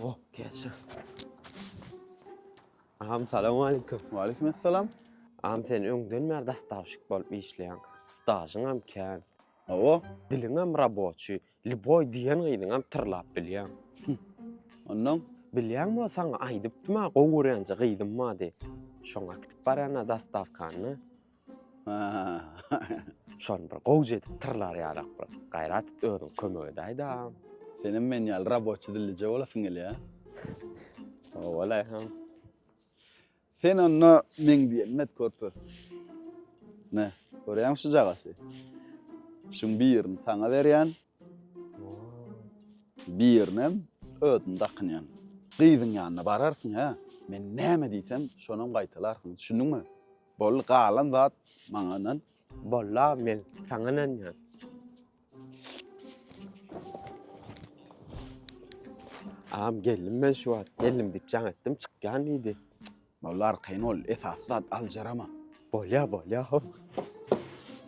Oh, gelsin. Ağam salamu aleyküm. Waleyküm esselam. Ağam sen öňden bäri dastavşik bolup işleýän. Stajyň hem kän. Awa, Diliň hem raboçy. Liboy diýen gyzyň hem tyrlap bilýän. ondan Bilýän bol saňa aýdypdym ha, gowy görýänçe gyzym bardy. Şoňa gidip barýan ha dastavkany. Şony bir gowja edip tyrlar ýalak bir gaýrat et özüň kömek edäýdä. Senem men ýaly raboçi dillije bolasyň gelýä. Owalay hem. Sen onda meň diýenim et körpe. Ne, görýäň şu jagasy. Şuň birini saňa berýän. Birinem özüm dakynýan. Gyzyň ýanyna bararsyň hä. Men näme diýsem, şonam gaýtalarsyň. Düşündiňmi? Boldy galan zat maňa ynan. Boldy aga men saňa ynanýan. Agam geldim men şu wagt geldim diýip jaň etdim çykýan diýdi. Boldy arkaýyn bol esasy zat aljarama. Bolýa bolýa ho.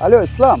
Alo İslam.